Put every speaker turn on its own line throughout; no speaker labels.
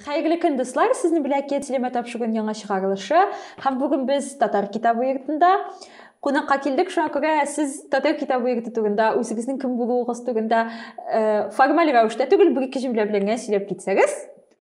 Хәерле көн, дуслар! Сезне белән Кетлеме тапшыгын яңа чыгарылышы. Һәм бүген без Татар китабы йортында кунакка килдек. Шуңа күрә сез Татар китабы йорты турында, үзегезнең кем булуыгыз турында э, формаль рәвештә түгел, бер-ике җөмлә белән генә сөйләп китсәгез.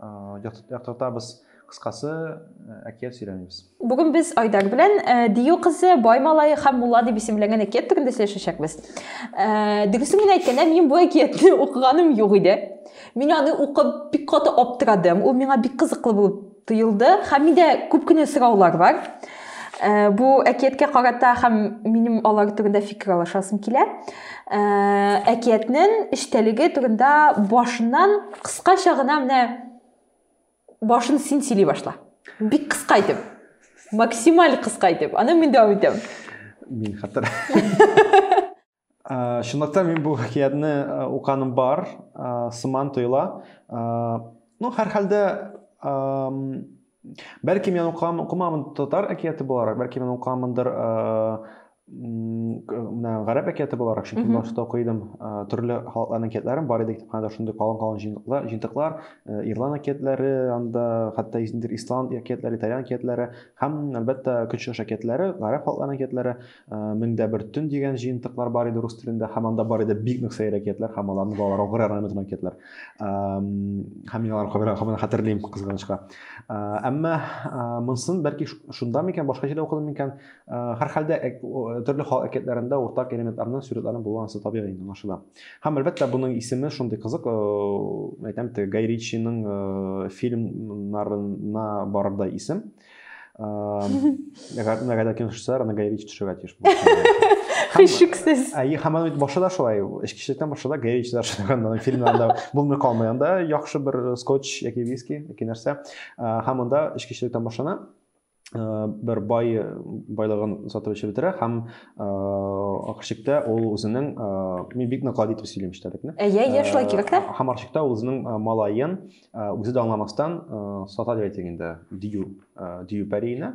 яктыртабыз кыскасы әкият сөйләмибез бүген без айдар
белән дию кызы бай малай һәм мулла дип исемләнгән әкият турында сөйләшәчәкбез дөресен генә әйткәндә мин бу әкиятне укыганым юк иде мин аны укып бик каты аптырадым ул миңа бик кызыклы булып тоелды һәм миндә күп кенә сораулар бар Э, бу әкияткә карата һәм минем алар турында фикер алышасым килә э, әкиятнең эчтәлеге турында башыннан кыскача гына менә башын син сөйли башла бик кыска итеп максималь кыска итеп аны мин дәвам итәм мин хәтер
Э, чынлыкта мин бу хикәятне э, уканым бар э, сыман тоела ну һәрхәлдә бәлки мин укам укымамын татар әкияте буларак бәлки мин укамындыр менә гарәп әкияте буларак чөнки башта уку идем төрле халыкларның әкиятләрен бар иде китапханәдә шундый калын калын җыентыклар җыентыклар ирлан әкиятләре анда хәтта исланд әкиятләре итальян әкиятләре һәм әлбәттә көнчыгыш әкиятләре гарәп халыкларының әкиятләре Мең дә бер төн дигән җыентыклар бар иде рус телендә, һәм анда бар иде бик нык сәер әкиятләр һәм аларны балалар укыр ярдәм итү әкиятләр. Һәм мин аларны кабер кабына хәтерлим кызганычка. Әмма монсын бәлки шунда микән, башка җирдә укыдым микән? Һәр хәлдә төрле халык әкиятләрендә уртак элементларның сурәтләрен булу ансы табигый инде аңлашыла. Һәм әлбәттә буның исеме шундый кызык, әйтәм бит, Гай Ричиның фильмнарына барырдай исем. Мәгәдә кино төшсә, аны Гай Ричи төшерергә тиеш.
Хишексез. Ә и хаман бит
башы да шулай, эчкечелектән башы да Гай Ричи төшергәннән фильмнарда булмый калмый. Анда яхшы бер скотч яки виски, яки нәрсә. Һәм анда эчкечелектән башлана. бер бай байлыгын сатып эчеп бетерә һәм ахырчыкта ул үзенең мин бик нык гади итеп сөйлим эчтәлекне әйе әйе шулай кирәк тә
ахырчыкта ул үзенең
малаен Э, үзе дә аңламастан э, сата дип әйтик инде дию э, дию пәриенә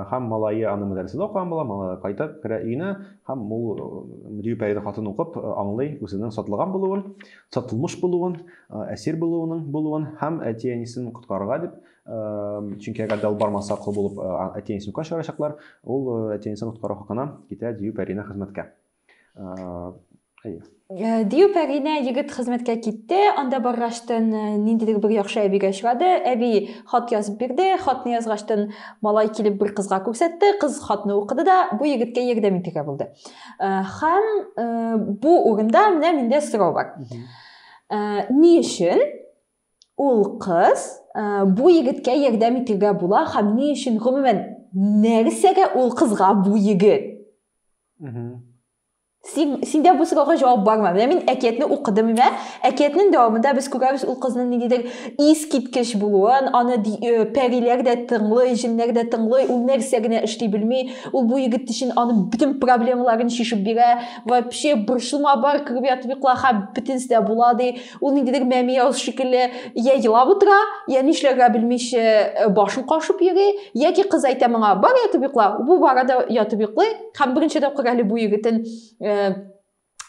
һәм малае аны мәдрәсәдә укыган була малае кайтып керә өенә һәм ул дию пәрине хатын укып аңлый үзенең сатылган булуын сатылмыш булуын әсир булуының булуын һәм әти әнисен коткарырга дип чөнки әгәр дә ул бармаса кол булып әти әнисен үкә чыгарачаклар ул әти әнисен коткару хакына китә дию пәриенә хезмәткә Әйе.
Э, Дию пәринә егет хезмәткә китте, анда баргачтын э, ниндидер бер яхшы әбигә очрады. Әби хат язып бирде, хатны язгачтын малай килеп бер кызга күрсәтте, кыз хатны укыды да бу егеткә ярдәм итергә булды. Э, һәм бу урында менә миндә сорау бар. Ни өчен ул кыз бу егеткә ярдәм итергә була һәм ни өчен гомумән нәрсәгә ул кызга бу егет? сен сендә бу сорауга җавап бармы менә мин әкиятне укыдым менә әкиятнең дәвамында без күрәбез ул кызның ниндидер искиткеч булуын аны э, пәриләр дә тыңлый җеннәр дә тыңлый ул нәрсә генә эшли белми ул бу егет өчен аның бөтен проблемаларын чишеп бирә вообще борчылма бар кереп ятып йокла һәм бөтенесе дә була ди Ул ниндидер мәмияз шикелле я елап утыра, я нишләргә белмичә э, башын кашып йөри, яки кыз әйтә моңа, бар ятып йокла, бу бара да ятып йоклый, һәм беренче тапкыр әле бу егетен э,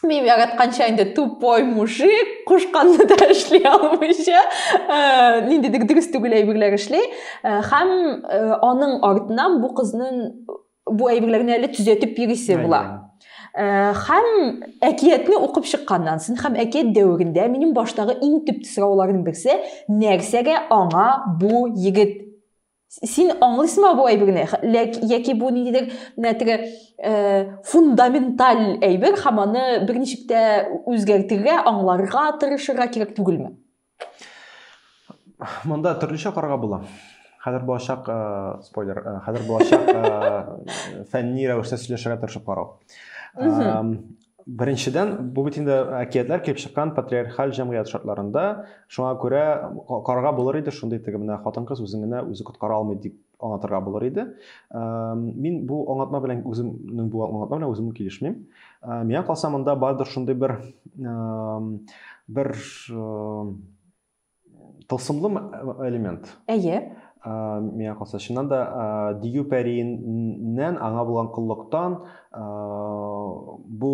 мин яратканча инде тупой мужик, кушканны да эшли алмыйча, э, ниндидер дөрес түгел әйберләр эшли, һәм аның артыннан бу кызның бу әйберләрне әле төзәтеп йөрисе була һәм әкиятне укып чыкканнан соң һәм әкият дәверендә минем баштагы иң төп сорауларның берсе нәрсәгә аңа бу егет син аңлыйсыңмы бу әйберне яки бу ниндидер теге фундаменталь әйбер һәм аны берничек тә үзгәртергә аңларга тырышырга кирәк түгелме
Монда төрлечә карга була. Хәзер булачак э, спойлер, э, хәзер булачак э, фәнни рәвештә сөйләшергә тырышып карау. Беренчедән, бу бит инде әкиятләр килеп чыккан патриархаль җәмгыять шартларында, шуңа күрә карга булыр иде шундый теге менә хатын-кыз үзен генә үзе коткара алмый дип аңлатырга булыр иде. Мин бу аңлатма белән үземнең бу аңлатма белән үзем килешмим. Миңа калса монда бардыр шундый бер бер тылсымлы элемент. Әйе.
Миңа
калса чыннан да Дию пәриннән аңа булган коллыктан бу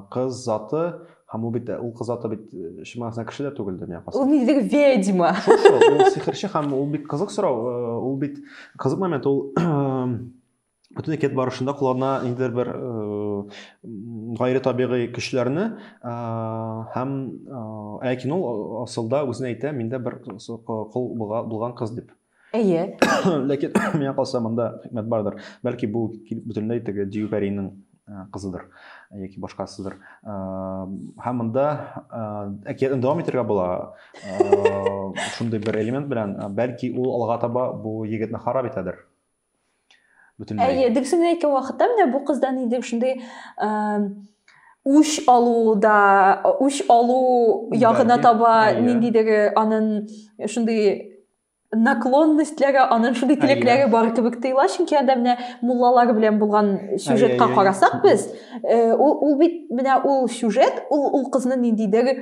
кыз заты Һәм ул бит ул кыз аты бит чын мәгънәсендә кеше дә түгел дөнья касы. Ул нидер ведьма.
Шул шул, ул сихерче
һәм ул бик кызык сорау, ул бит кызык момент, ул бөтен әкият барышында куллана ниндидер бер гайре табигый көчләрне һәм ләкин ул асылда үзенә әйтә, миндә бер кол булган кыз дип. Әйе.
Ләкин
миңа калса монда хикмәт бардыр. Бәлки бу бөтенләй теге Дию пәриенең э, кызыдыр э, яки башкасыдыр. Э, һәм монда әкиятне дәвам итәргә була. Шундый бер элемент белән, бәлки ул алга таба бу егетне харап итәдер. бөтенләй
әйе дөресен әйткән вакытта менә бу кызда нидер шундый үч алуда үч алу ягына таба ниндидер анын шундый наклонностьләре анын шундый теләкләре бар кебек тоела чөнки анда менә муллалар белән булган сюжетка карасак без ул бит менә ул сюжет ул ул кызны ниндидер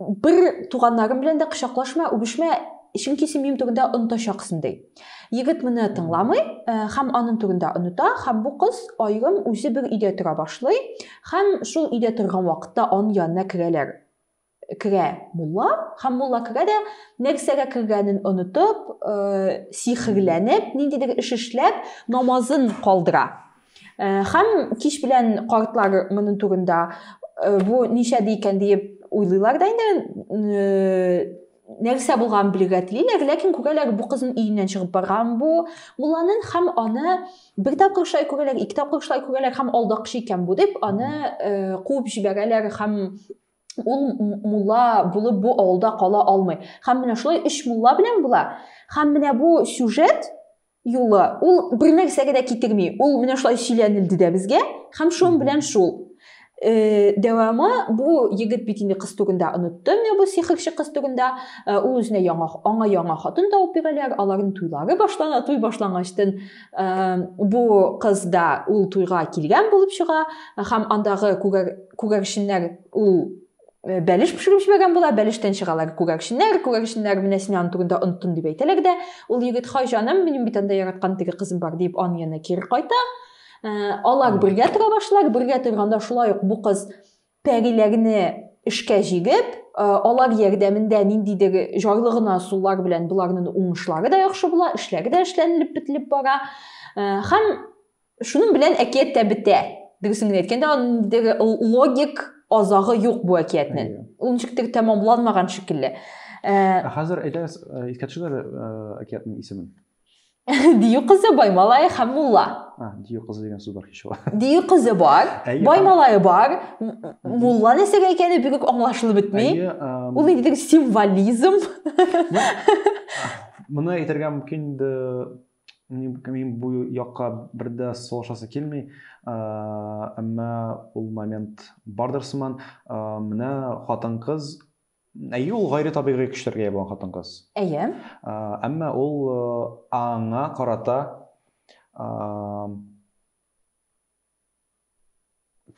бер туганнарым белән дә кочаклашма үбешмә чөнки син минем турында онытачаксың ди егет моны тыңламый һәм аның турында оныта һәм бу кыз аерым үзе бер өйдә тора башлый һәм шул өйдә торган вакытта аның янына керәләр керә мулла һәм мулла керә дә нәрсәгә кергәнен онытып сихерләнеп ниндидер эш эшләп намазын калдыра Һәм кич белән картлар моның турында бу ничә икән диеп уйлыйлар да инде нәрсә булган белергә телиләр, ләкин күрәләр бу кызын өеннән чыгып барган бу мулланың һәм аны бер тапкыр шулай күрәләр, ике тапкыр шулай күрәләр һәм алдакчы икән бу дип аны э, куып җибәрәләр һәм ул мулла булып бу авылда кала алмый. Һәм менә шулай өч мулла белән була. Һәм менә бу сюжет Юлы, ул бер нәрсәгә дә китерми. Ул менә шулай сөйләнелде дә безгә, һәм шун белән шул. Э, дәвамы бу егет бит инде кыз турында онытты менә бу сихерче кыз турында э, ул үзенә яңа аңа яңа хатын тауып бирәләр аларның туйлары башлана туй башлангачтын э, бу кыз да ул туйга килгән булып чыга һәм андагы күгәрченнәр ул Э, бәлеш пешереп җибәргән була бәлештән чыгалар күгәрченнәр күгәрченнәр менә син аны түрендә оныттың дип әйтәләр дә ул егет хай җаным минем бит анда яраткан теге кызым бар дип аны янына кире кайта э, алар бергә тора башлар бергә торганда шулай ук бу кыз пәриләрне эшкә җигеп э, алар ярдәмендә ниндидер җайлы гына сулар белән боларның уңышлары да яхшы була эшләре дә эшләнелеп бетелеп бара һәм Шуның белән әкият тә бетә. Дөресен генә әйткәндә, андагы логик азагы юк бу әкиятнең. Ул ничектер тәмамланмаган шикелле. Ә, ә хәзер
әйдәгез, искә төшерер әкиятнең исемен. Дию
кызы Баймалай һәм мулла. А, дию кызы дигән
сүз бар кич ва. Дию кызы бар,
Баймалай бар, мулла нәрсә икәне бигүк аңлашылып бетми. Ул нидер символизм.
Моны әйтергә мөмкин инде мин бу якка бер дә салышасы килми, әмма ул момент бардыр сыман. Менә хатын-кыз, әйе, ул гайре табигый көчләргә ия булган хатын-кыз. Әйе.
Әмма
ул аңа карата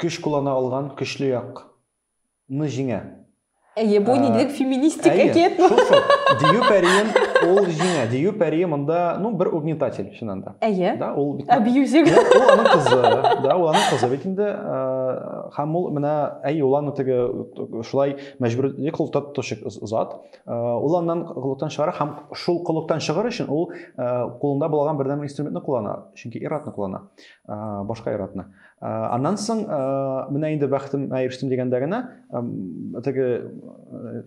Көч куллана алган көчле як
ны җиңә. Әйе, бу нидер феминистик әкият бу. Әйе, шул шул.
Дию
пәриен
ул җиңә. Дию пәрие монда, ну, бер угнетатель, чыннан да. Әйе. Да, ул бит.
Абьюзер.
Ул аның
кызы.
Да, ул аның кызы бит инде. Һәм ул менә, әйе, ул аны теге шулай мәҗбүрли кылта тотучы зат. Ул аннан коллыктан чыгара һәм шул коллыктан чыгыр өчен ул кулында булган бердәнбер инструментны куллана, чөнки ир-атны куллана. башка ир-атны. Аннан соң менә инде бәхетемә ирештем дигәндә генә теге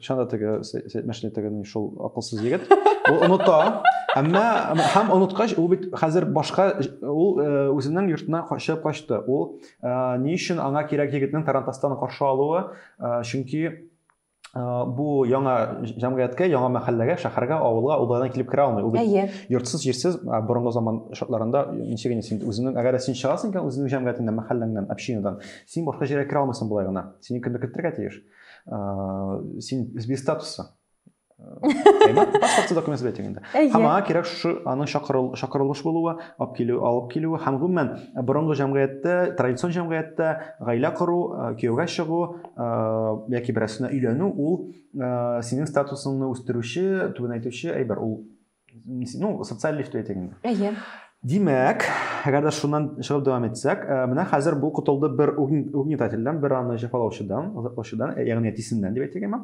чанда теге мәшинә теге шул акылсыз егет ул оныта. Әмма һәм оныткач ул бит хәзер башка ул үзенең йортына качып качты. Ул ни өчен аңа кирәк егетнең тарантастан каршы алуы? Чөнки бу яңа җәмгыятькә, яңа мәхәлләгә, шәһәргә, авылга углайдан килеп керә алмый. Ул йортсыз, җирсез, борынгы заман шартларында ничек инде син үзеңнең, әгәр син чыгасың икән үзеңнең җәмгыятеңнән, мәхәлләңнән, общинадан, син башка җиргә керә алмыйсың болай гына. Сине кемдер кертергә тиеш. Син без статусы. паспортсыз документ сүз әйтәм инде һәм аңа кирәк шушы аның чакырылыш булуы алып килү алып килүе һәм гомумән борынгы җәмгыятьтә традицион җәмгыятьтә гаилә кору кияүгә чыгу яки берәрсенә өйләнү ул синең статусыңны үстерүче түбәнәйтүче әйбер ул ну социаль лифт әйтик инде әйе димәк әгәр дә шуннан чыгып дәвам итсәк э, менә хәзер бу котылды бер угнетательдән бер аны җәфалаучыдан озатлаучыдан э, ягъни әтисеннән дип әйтик әмма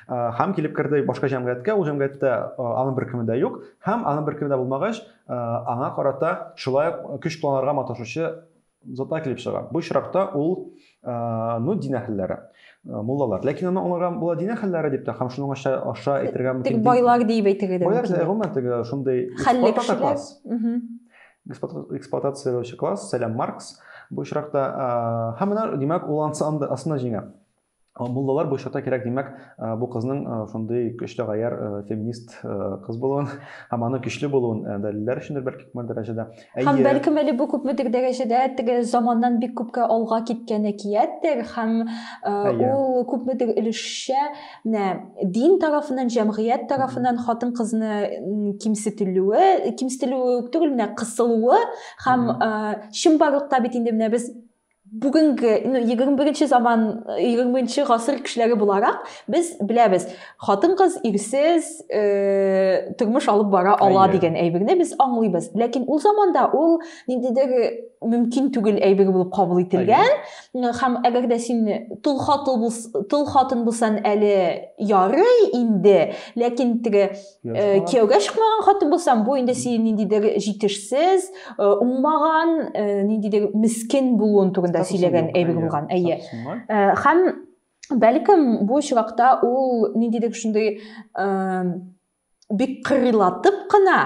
э, һәм килеп керде башка җәмгыятькә ул җәмгыятьтә аның беркеме дә юк һәм аның беркеме дә булмагач аңа карата шулай ук көч кулланырга маташучы Зата килеп чыга. Бу очракта ул ну дин әһелләре, муллалар. Ләкин аны аңларга була дин әһелләре дип тә һәм шуның аша аша әйтергә мөмкин. Тик байлар дип әйтергә дә
мөмкин. Байлар гомумән теге шундый
эксплуатация класс. Эксплуатацияләүче класс, сәлам Маркс. Бу очракта һәм менә димәк ул ансында җиңә. Муллалар бу очракта кирәк, димәк, бу кызның шундый көчле гаяр феминист кыз булуын һәм аның көчле булуын дәлилләр өчендер бәлки күпме дәрәҗәдә. Һәм бәлкем әле
бу күпмедер дәрәҗәдә теге заманнан бик күпкә алга киткән әкияттер һәм ул күпмедер өлешчә менә дин тарафыннан, җәмгыять тарафыннан хатын-кызны кимсетелүе, кимсетелүе үк түгел, менә кысылуы һәм чынбарлыкта бит инде менә без бүгенге ну егерме беренче заман егерме беренче гасыр кешеләре буларак без беләбез хатын кыз ирсез э, тормыш алып бара ала дигән әйберне без аңлыйбыз ләкин ул заманда ул ниндидер мөмкин түгел әйбер булып кабул ителгән һәм әгәр дә син тол хатын тол хатын булсаң әле ярый инде ләкин теге Э, кияүгә чыкмаган хатын булсаң бу инде синең ниндидер җитешсез э, уңмаган э, ниндидер мискен булуын турында сөйләгән әйбер булган әйе һәм бәлкем бу очракта ул ниндидер шундый бик кырыйлатып кына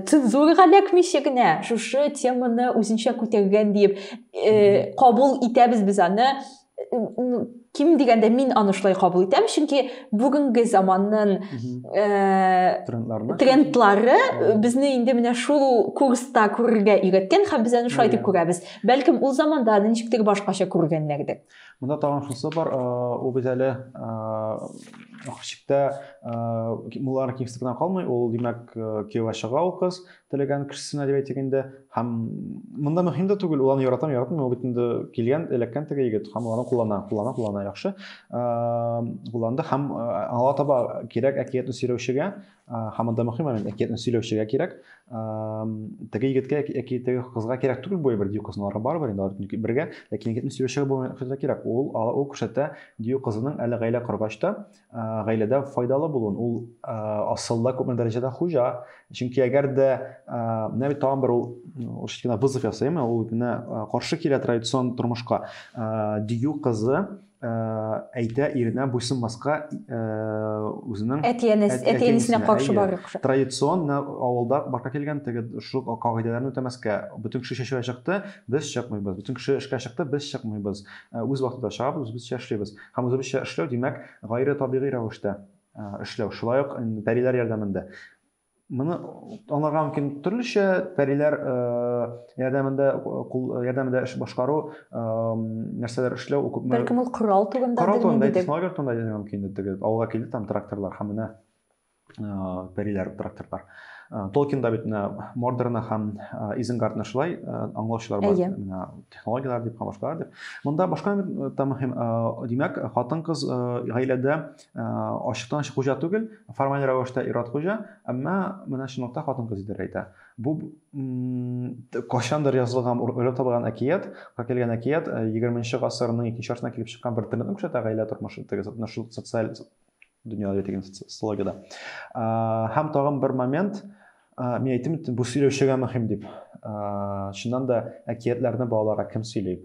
цензурага эләкмичә генә шушы теманы үзенчә күтәргән диеп кабул итәбез без аны ким дигәндә мин аны шулай кабул итәм чөнки бүгенге заманның э, трендлары безне инде менә шул курста күрергә өйрәткән һәм без аны шулай дип күрәбез бәлкем ул заманда аны ничектер башкача күргәннәрдер монда тагын шунысы
бар э, ул бит әле э, хичиктә муллар кимсетүдән калмый ул димәк кияүгә чыга ул кыз теләгән кешесенә дип әйтик инде һәм монда мөһим дә түгел ул аны яратам яратмый ул бит инде килгән эләккән теге егет һәм ул аны куллана куллана куллана яхшы кулланды һәм аңа таба кирәк әкиятне сөйләүчегә һәм монда мөһим момент әкиятне сөйләүчегә кирәк теге егеткә яки теге кызга кирәк түгел бу әйбер дию кызлары барыбер инде алар бергә ләкин егетне сөйләүчегә бу кирәк ул ул күрсәтә дию кызының әле гаилә коргач та гаиләдә файдалы булуын ул асылда күпме дәрәҗәдә хуҗа чөнки әгәр дә менә бит тагын бер ул урысча гына вызов ясыйм ул генә каршы килә традицион тормышка дию кызы әйтә иренә буйсынмаска үзенең әти-әнисенә каршы барып традицион авылда барка килгән теге шул кагыйдәләрне үтәмәскә бөтен кеше чәчүгә чыкты без чыкмыйбыз бөтен кеше эшкә чыкты без чыкмыйбыз үз вакытында чыгабыз үзебезчә эшлибез Һәм үзебезчә эшләү, димәк, гайре табигый рәвештә эшләү, шулай ук пәриләр ярдәмендә. Моны аңларга мөмкин төрлечә пәриләр ярдәмендә кул ярдәмендә эш башкару, нәрсәләр эшләү, күпме Бәлкем ул корал турында
Корал турында, технология турында
әйтергә мөмкин иде. Авылга килде там тракторлар һәм менә пәриләр, тракторлар. Толкинда бит менә Мордорна һәм Изенгардны шулай аңлаучылар бар. Менә технологияләр дип һәм башкалар дип. Монда башка да мөһим. Димәк, хатын-кыз гаиләдә ачыктан ачык хуҗа түгел, формаль рәвештә ир-ат хуҗа, әмма менә чынлыкта хатын-кыз идарә итә. Бу кайчандыр язылган, уйлап табылган әкият, килгән әкият 20 нче гасырның икенче яртысында килеп чыккан бер трендны күрсәтә, гаилә тормышы, теге социаль дөньяда ятегін социологияда һәм тагын бер момент мен әйттем бұл сөйлеушіге мөһим деп шыннан да әкиятләрне балаларга кім сөйли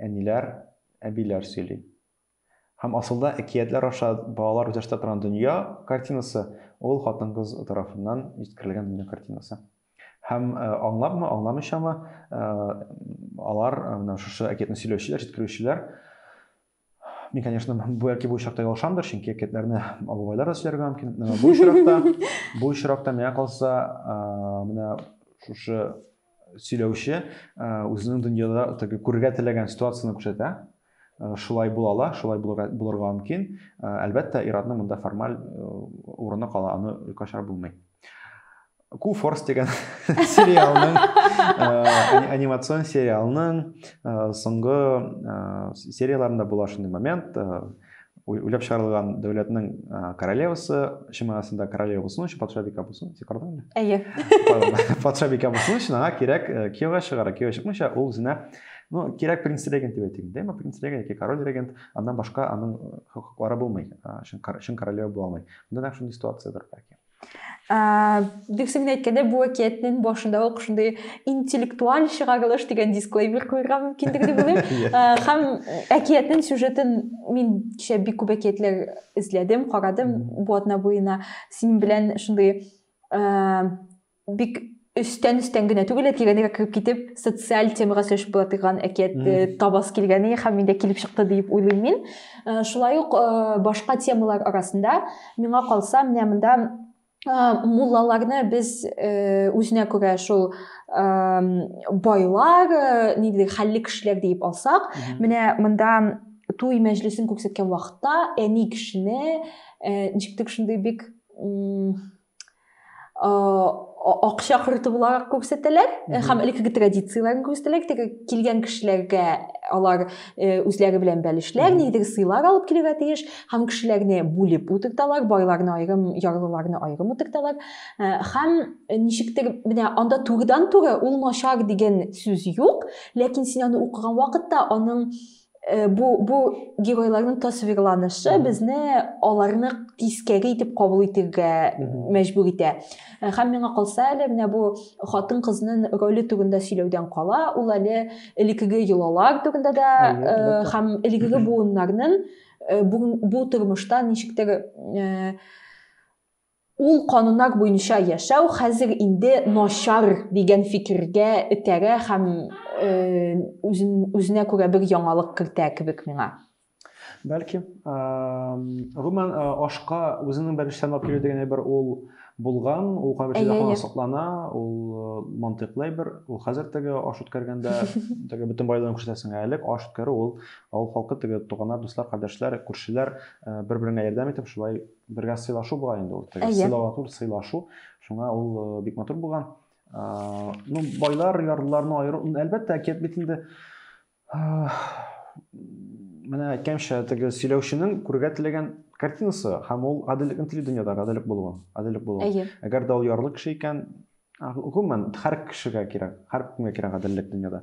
әниләр әбиләр сөйли һәм асылда әкиятләр аша балалар үзләштерә торган дөнья картинасы ул хатын кыз тарафыннан җиткерелгән дөнья картинасы һәм э, аңлапмы аңламыйчамы э, алар э, менә шушы әкиятне сөйләүчеләр җиткерүчеләр Мин, конечно, бу яки бу очракта ялгышамдыр, чөнки әкиятләрне абабайлар да сөйләргә мөмкин. Бу очракта, бу очракта миңа калса, менә шушы сөйләүче үзенең дөньяда теге күрергә теләгән ситуацияне күрсәтә. Шулай була ала, шулай булырга мөмкин. Әлбәттә, иратның монда формаль урыны кала, аны юкка чыгарып булмый. ку форс деген сериалның анимацион сериалның соңгы серияларында була шундый момент уйлап чыгарылган дәүләтнең королевасы чын мәгънәсендә королева булсын өчен патша бикә булсын син карадың әле әйе
патша
бикә булсын өчен аңа кирәк кияүгә чыгара кияүгә чыкмыйча ул үзенә ну кирәк принц регент дип әйтик дәйме принц регент яки король регент аннан башка аның хокуклары булмый чын королева була алмый монда нәкъ шундый ситуациядер бәлки
Дүксен генә әйткәндә, бу әкиятнең башында ук шундый интеллектуаль чыгарылыш дигән дисклеймер куярга мөмкиндер дип уйлыйм. Һәм әкиятнең сюжетын мин кичә бик күп әкиятләр эзләдем, карадым бу атна буена. Синең белән шундый бик өстән өстән генә түгел, тирәнрәк кереп китеп, социаль темага сөйләшеп була торган әкият э, табас килгәне һәм миндә килеп чыкты дип уйлыйм мин. Э, шулай ук э, башка темалар арасында миңа калса, менә монда муллаларны без үзенә күрә шул байлар, нидер хәлле кешеләр диеп алсак, менә монда туй мәҗлесен күрсәткән вакытта әни кешене ничектер шундый бик акча корты буларак күрсәтәләр һәм элеккеге традицияләрен күрсәтәләр теге килгән кешеләргә алар үзләре белән бәлешләр нидер сыйлар алып килергә тиеш һәм кешеләрне бүлеп утырталар байларны аерым ярлыларны аерым утырталар һәм ничектер менә анда турыдан туры ул начар дигән сүз юк ләкин син аны укыган вакытта аның Э, бу бу геройларның тасвирланышы безне аларны тискәре итеп кабул итергә мәҗбүр итә э, һәм миңа калса әле менә бу хатын кызның роле турында сөйләүдән кала ул әле элекеге йолалар турында да э, һәм элекеге буыннарның бу тормышта ничектер Ул кануннар буенча яшәү хәзер инде начар дигән фикергә этәрә һәм үзен, үзенә күрә бер яңалык кертә кебек миңа. Бәлки,
гомумән, ашка үзенең бәлештән алып килү дигән әйбер ул булган, ул кайбер җирдә һаман саклана, ул э, мантыйклы әйбер, ул хәзер теге аш үткәргәндә теге бөтен байлыгын күрсәтәсең, ә элек аш үткәрү ул авыл халкы теге туганнар, дуслар, кардәшләр, күршеләр э, бер-береңә ярдәм итеп шулай бергә сыйлашу була инде ул теге сыйлау түгел сыйлашу шуңа ул э, бик матур булган э, ну байлар ярлыларны аеру әлбәттә әкият бит инде э, менә әйткәнчә теге сөйләүченең күрергә теләгән картинасы һәм ул гаделлекне тели дөньяда гаделлек булуын гаделлек булуын әгәр дә ул ярлы кеше икән Гомумән, һәр кешегә кирәк, һәр кемгә кирәк гаделлек дөньяда.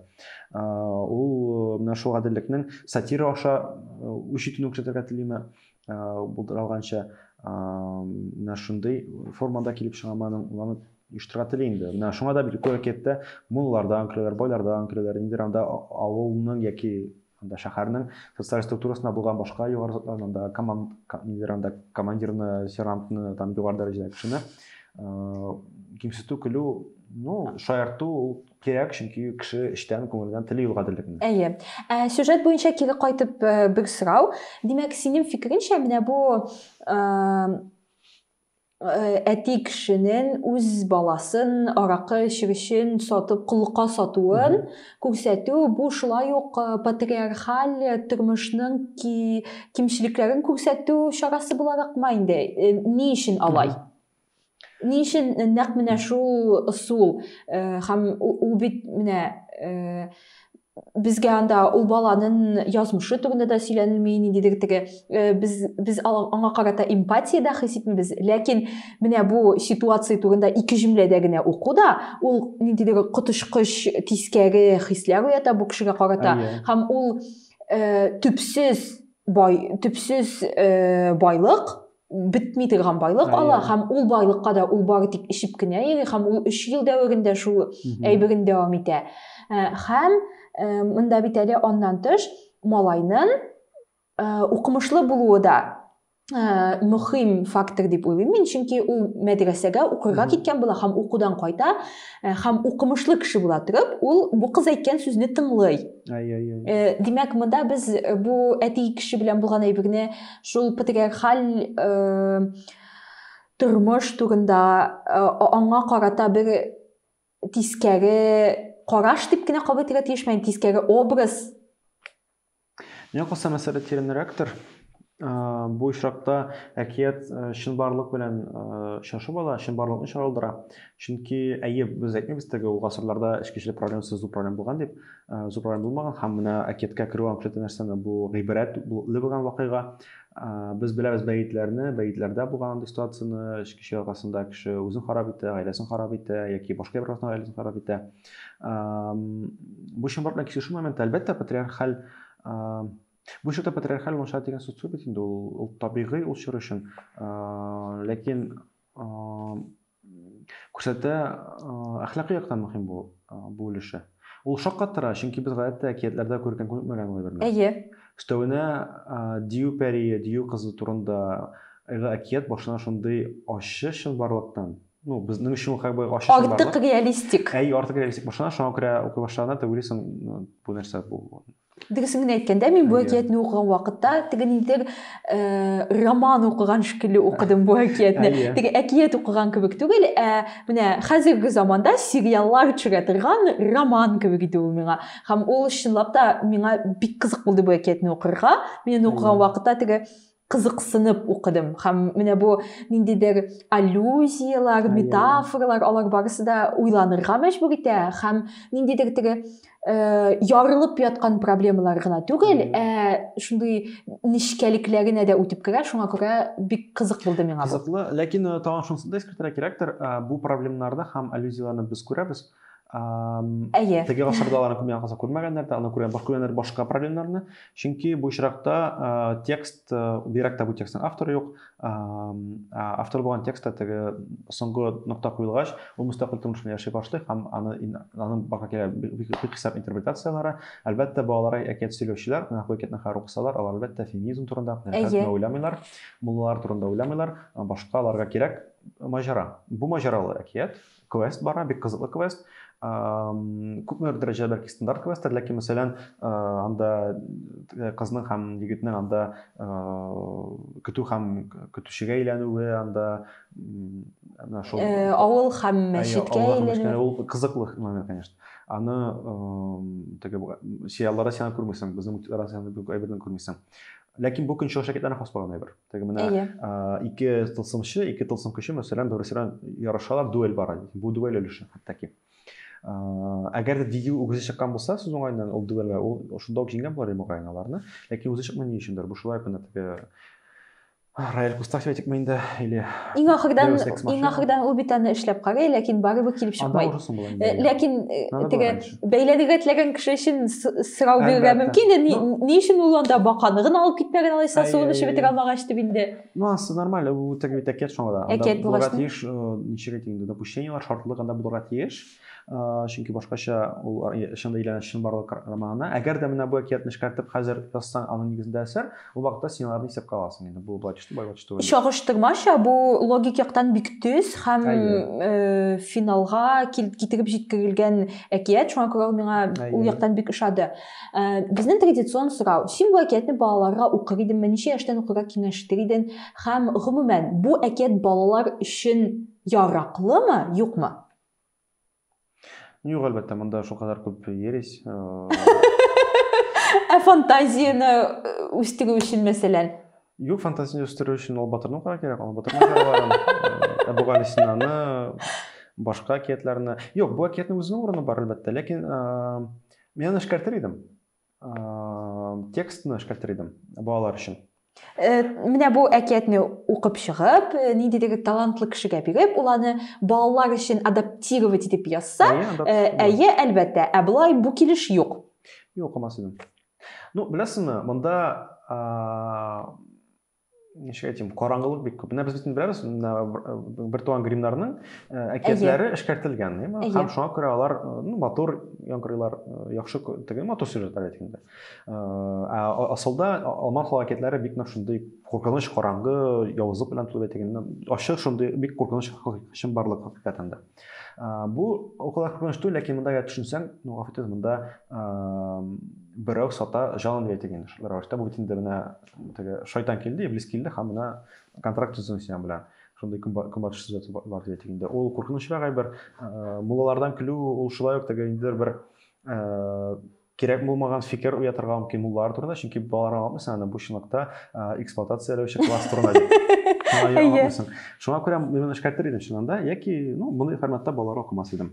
Ул менә шул гаделлекнең сатира аша үч итүен күрсәтергә телиме, булдыралганча, менә шундый формада килеп чыгамы аның, уланы оештырырга тели инде. Менә шуңа да бит күрәкәттә муллардан көләләр, байлардан көләләр, ниндидер анда авылның яки Анда шәһәрнең социаль структурасында булган башка югары затларны, анда команд, ниләр анда командирны, сержантны, там югары дәрәҗәдәге кешене кимсетү, көлү, ну, шаярту ул кирәк, чөнки кеше эчтән, күңелдән тели ул гаделлекне. Әйе. Ә
сюжет буенча кире кайтып бер сорау. Димәк, синең фикереңчә, менә бу Э, әти кешенең үз баласын аракы эчеп өчен сатып коллыкка сатуын күрсәтү бу шулай ук э, патриархаль тормышның ки, кимчелекләрен күрсәтү чарасы буларак ма инде э, ни өчен алай ни өчен нәкъ менә шул ысул һәм ул бит менә безгә анда ул баланың язмышы турында да сөйләнелми ниндидер теге э, без без аңа карата эмпатия дә хис итмибез ләкин менә бу ситуация турында ике җөмләдә генә уку да ул ниндидер коточкыч тискәре хисләр уята бу кешегә карата һәм ул э, төпсез бай төпсез э, байлык бетми торган байлык ала һәм ул байлыкка да ул бары тик эчеп кенә йөри һәм ул өч ел дәверендә шул әйберен дәвам итә һәм монда бит әле аннан тыш малайның укымышлы булуы да мөһим фактор дип уйлыйм мин чөнки ул мәдрәсәгә укырга киткән була һәм укудан кайта һәм укымышлы кеше була торып ул бу кыз әйткән сүзне тыңлый димәк монда без бу әти кеше белән булган әйберне Шул патриархаль э, тормыш турында э, аңа карата бер тискәре караш дип кенә кабул итәргә тиешме, тискәре образ?
Миңа калса мәсьәлә тирәнрәктер. Э, бу очракта әкият э, чынбарлык белән очрашып ала, чынбарлыкны чагылдыра. Чөнки әйе, без әйтмибез теге ул гасырларда эчкечелек проблемасы зур проблем булган дип, Зубрай булмаган һәм менә әкияткә керү анклеты нәрсәне бу гыйбрәт булган вакыйга. Без беләбез бәетләрне, бәетләрдә булган андый ситуацияне, өч кеше арасында кеше үзен харап итә, гаиләсен харап итә яки башка бер арасында гаиләсен харап итә. Бу чынбарлыкка килешү моменты, әлбәттә, патриархаль Бу чорда патриархаль ваншат дигән сүз түгел инде, ул табигый ул чор өчен. Ләкин күрсәтә, әхлакый яктан мөһим бу бу өлеше. Ул шаккаттыра, чөнки без гадәттә әкиятләрдә күргән күрмәгән ул әйберне. Әйе. Өстәвенә Дию пәрие, Дию кызы турында эгы әкият башына шундый ачы чынбарлыктан, ну, безнең өчен как бы ачы чынбарлык. Артык реалистик. Әй,
артык реалистик башына,
шуңа күрә укый башлаганда ты уйлыйсың, бу нәрсә бу? Дөресен генә әйткәндә,
мин бу әкиятне укыган вакытта теге нидер э, роман укыган шикелле укыдым бу әкиятне. Теге әкият укыган кебек түгел, ә менә хәзерге заманда сериаллар төшерә торган роман кебек иде ул миңа. Һәм ул чынлап та миңа бик кызык булды бу әкиятне укырга. Мин укыган вакытта теге кызыксынып укыдым һәм менә бу ниндидер аллюзияләр метафоралар алар барысы да уйланырга мәҗбүр итә һәм ниндидер теге э, ярылып яткан проблемалар гына түгел ә шундый нечкәлекләренә дә үтеп керә шуңа күрә бик кызык булды миңа кызыклы ләкин э, тагын
шунысын да искәртергә кирәктер э, бу проблемаларда һәм аллюзияләрне без күрәбез Әйе. Теге гасырда аларны күрмәгән калса күрмәгәннәр дә, аны күргән баш күргәннәр башка проблемнарны. Чөнки бу очракта текст, бигрәк тә бу текстның авторы юк. Автор булган текстта теге соңгы нокта куелгач, ул мөстәкыйль тормыш белән яши башлый һәм аны аның бага килә хисап интерпретацияләре. Әлбәттә, балалар әкият сөйләүчеләр, менә бу әкиятне хәер укысалар, алар әлбәттә феминизм турында, хәзер уйламыйлар, муллалар турында уйламыйлар, башка аларга кирәк маҗара. Бу маҗаралы әкият, квест бара, бик кызыклы квест. Күпмедер дәрәҗәдә бәлки стандарт квесттер, ләкин мәсәлән, анда э, кызның һәм егетнең анда э, көтү һәм көтүчегә әйләнүе, анда менә шул э, авыл
һәм мәчеткә әйләнү. Ул кызыклы
момент, конечно. Аны теге сериалларда сен күрмисең, безнең мультикларда сен әйбердән күрмисең. Ләкин бу көнчыгыш шәкертләрне хас булган әйбер. Теге менә Әйе. а, ике тылсымчы, ике тылсым көче мәсәлән бер-берсе белән ярышалар, дуэль бара. Бу дуэль өлеше хәтта А, әгәр дә дигил үгезе чыккан булса сүз уңаеннан ул дуэльгә ул шунда ук җиңгән булар мөгаен аларны ләкин үзе чыкмый ни өчендер бу шулай гына теге Раэль Кустафи әйтекме инде или иң ахырдан
иң ахырдан ул бит аны эшләп карый ләкин барыбер килеп чыкмый ләкин теге бәйләнергә теләгән кеше өчен сорау бирергә мөмкин инде ни, ну, ни өчен ул анда баканы гына алып китмәгән алайса суын эчеп бетерә алмагач дип инде ну асы нормально бу
теге бит әкият шуңа да әкият булырга тиеш э, ничек әйтим инде допущениелар шартлы гына булырга тиеш э, чөнки башкача ул чында әйләнә чынбарлык романына әгәр дә менә бу әкиятне эшкәртеп хәзер язсаң аның нигезендә әсәр Ул вакытта син аларны исәпкә аласың инде. Бу бачты, бай бачты. Чагыштырмача, бу
логик яктан бик төз һәм э, финалга китереп җиткерелгән әкият. Шуңа күрә ул миңа ул яктан бик ошады. Э, безнең традицион сорау, син бу әкиятне балаларга укыр идеңме, ничә яшьтән укырга киңәштер идең һәм гомумән бу әкият балалар өчен яраклымы, юкмы? Ну,
юк, әлбәттә, монда шул кадәр күп ересь.
Ә фантазияне э, үстерү өчен, мәсәлән?
Юк, фантазияне үстерү өчен ул батырның кара кирәк, ул батырның җырларын, э, Әбу Галисинаны, башка әкиятләрне. Юк, бу әкиятнең үзенең урыны бар, әлбәттә, ләкин э, мин аны эшкәртер идем. текстны эшкәртер идем балалар өчен э, менә
бу әкиятне укып чыгып э, ниндидер талантлы кешегә биреп ул аны балалар өчен адаптировать итеп язса э, әйе әлбәттә ә болай бу килеш юк юк укымас идем
ну беләсеңме монда ничек әйтим караңгылык бик күп менә без бөтен беләбез бер туган гримнарның әкиятләре эшкәртелгән ме һәм шуңа күрә алар ну матур яңгырлар яхшы теге матур сюжетлар әйткәндә ә асылда алман хала әкиятләре бик нык шундый куркыныч караңгы явызлык белән тулы әйтегәндә ачык шундый бик куркыныч чынбарлык хакыйкатен дә бу о кадәр куркыныч түгел ләкин монда төшенсәң ну гафу итегез монда берәү сата җанын әйтегән шулар бу бит инде менә Теге шайтан килде, иблис килде һәм менә контракт төзү синең белән. Шундый көнбатыш сюжеты бар диде тик инде. Ул куркынычрак әйбер. Э, Муллалардан көлү ул шулай ук теге инде бер э, кирәк булмаган фикер уятырга мөмкин муллар турында, чөнки балалар аңламыйсың аны бу чынлыкта э, эксплуатацияләүче класс турында дип. Шуңа күрә мин эшкәртер идем чыннан да, яки ну, мондый форматта балалар укымас идем.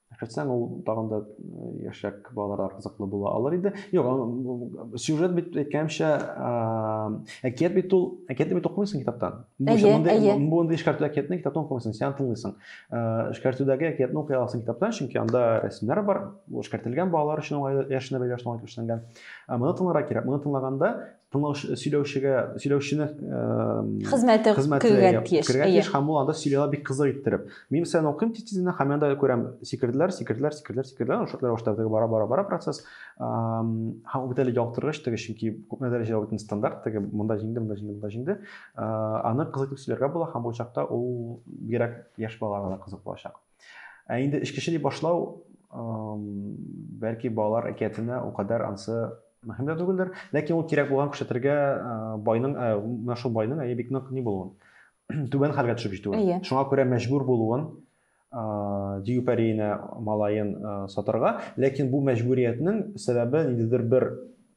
Әкрәтсәң, ул тагын да яшьрәк балаларга кызыклы була алыр иде. Юк, сюжет бит әйткәнемчә, әкият бит ул, әкиятне бит укымыйсың китаптан. Әйе, әйе. Бу инде эшкәртү әкиятне китаптан укымыйсың, син тыңлыйсың. Эшкәртүдәге әкиятне укый аласың китаптан, чөнки анда рәсемнәр бар, ул эшкәртелгән балалар өчен уңайлы, яшенә бәйле яшенә эшләнгән. Ә моны тыңларга кирәк. Моны тыңлаганда тыңлаучы сөйләүчегә сөйләүчене
хезмәте кергән тиеш кергән тиеш һәм ул анда сөйли ала
бик кызык иттереп мин сән укыйм тиз тизенә һәм анда күрәм сикерделәр сикерделәр сикерделәр сикерделәр шутлар башта теге бара бара бара процесс һәм бит әле ялыктыргыч теге чөнки күпме дәрәҗәдә бөтен стандарт теге монда җиңде монда җиңде монда җиңде аны кызык итеп сөйләргә була һәм бу чакта ул бигрәк яшь балаларга да кызык булачак Ә инде эчкече дип башлау, бәлки балалар әкиятенә ул кадәр ансы мөһим дә түгелдер, ләкин ул кирәк булган күрсәтергә байның, менә шул байның әйе бик нык ни булуын, түбән хәлгә төшеп җитүен, шуңа күрә мәҗбүр булуын дию пәриенә малаен сатарга, ләкин бу мәҗбүриятнең сәбәбе ниндидер бер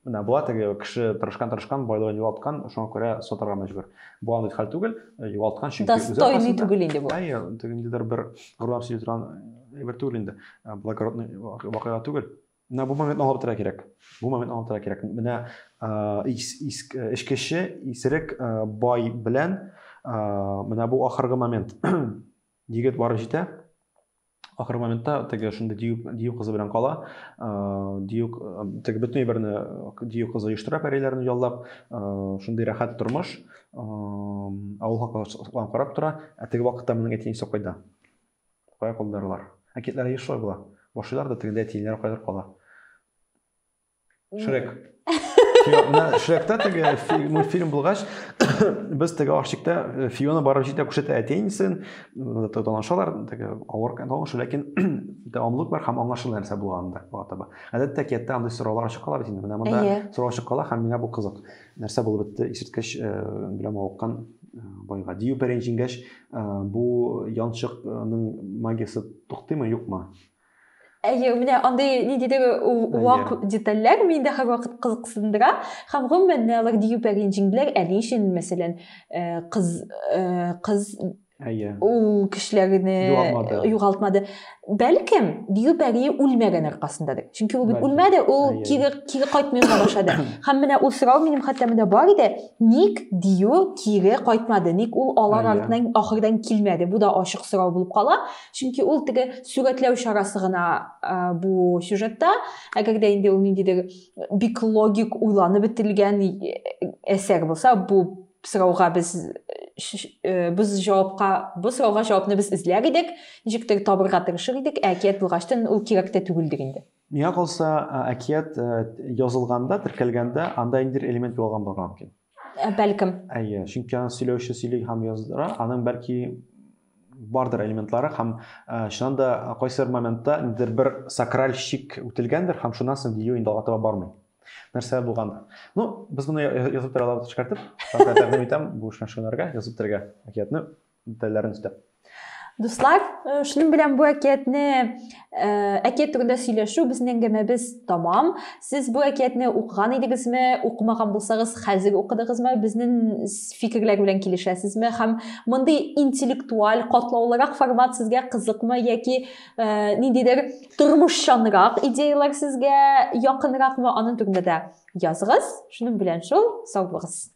менә була теге кеше тырышкан тырышкан байлыгын югалткан шуңа күрә сатарга мәҗбүр бу андый хәл түгел э, югалткан чөнки достойный түгел инде
бу әйе ниндидер бер
горурланып сөйли торган әйбер түгел инде э, благородный вакыйга түгел менә бу моментны аңлап торырга кирәк бу моментны аңлап торырга кирәк менә э, эчкече исерек бай белән менә бу ахыргы момент Егет барып җитә. Ахыр моментта теге шундый дию, дию кызы белән кала. Дию теге бөтен әйберне дию кызы оештыра пәриләрне яллап. Шундый рәхәт тормыш. Авыл халкы карап тора. Ә теге вакытта моның әти әнисе кайда? Кая калдыралар? Әкиятләре еш шулай була. Башлыйлар да тегендә әти-әниләре кайдыр кала. Шрек. Шректа теге мультфильм булгач, без теге ашчыкта э, Фиона барып җитә күрсәтә әти-әнисен, э, танышалар, теге авыр танышу, ләкин дәвамлык бар һәм аңлашылмый нәрсә булганда була таба. Гадәттә әкияттә андый сораулар ачык кала бит инде. Менә монда сорау ачык кала һәм миңа бу кызык. Нәрсә булып бетте исерткеч э, белән мавыккан байга? Дию пәрән җиңгәч, бу янчыкның магиясе туктыймы, юкмы? Әйе,
менә андый ниндидер вак детальләр миндә һәрвакыт кызыксындыра һәм гомумән менә алар дию пәрен җиңделәр. Әле өчен, мәсәлән, кыз кыз Әйе. Ул кешеләрне югалтмады. югалтмады. Бәлкем дию пәри үлмәгән аркасындадыр. Чөнки ул бит үлмәде, ул кире кире кайтмый башлады. Һәм менә ул сорау минем хәтта менә бар иде. Ник дию кире кайтмады? Ник ул алар артыннан ахырдан килмәде? Бу да ачык сорау булып кала. чөнки ул теге сүгәтләү чарасы гына бу сюжетта әгәр дә инде ул ниндидер бик логик уйланып бетелгән әсәр булса бу сорауга без без җавапка бу сорауга җавапны без эзләр идек ничектер табырга тырышыр идек ә әкият булгачтын ул кирәк тә түгелдер инде миңа калса
әкият язылганда теркәлгәндә анда ниндидер элемент югалган булырга мөмкин Ә, бәлкем.
Әйе, чөнки аны
сөйләүче сөйли һәм яздыра, аның бәлки бардыр элементлары һәм ә, чыннан да кайсыр моментта ниндидер бер сакраль шик үтелгәндер һәм шуннан соң видео инде алга таба бармый. Нәрсә булганда. Ну, без моны язып тора алабыз шикартып. Тәкъдим итәм бу шунарга язып торырга әкиятне. детальләрен өстәп. Дуслар,
э, шуның белән бу әкиятне э, әкият турында сөйләшү безнең әңгәмәбез тәмам. Сез бу әкиятне укыган идегезме, укымаган булсагыз, хәзер укыдыгызмы? Безнең фикерләр белән килешәсезме? Һәм мондый интеллектуаль, катлаулырак формат сезгә кызыкмы яки э, ниндидер тормышчанрак идеяләр сезгә якынракмы? Аның турында
да
языгыз. Шуның белән шул,
сау
булыгыз.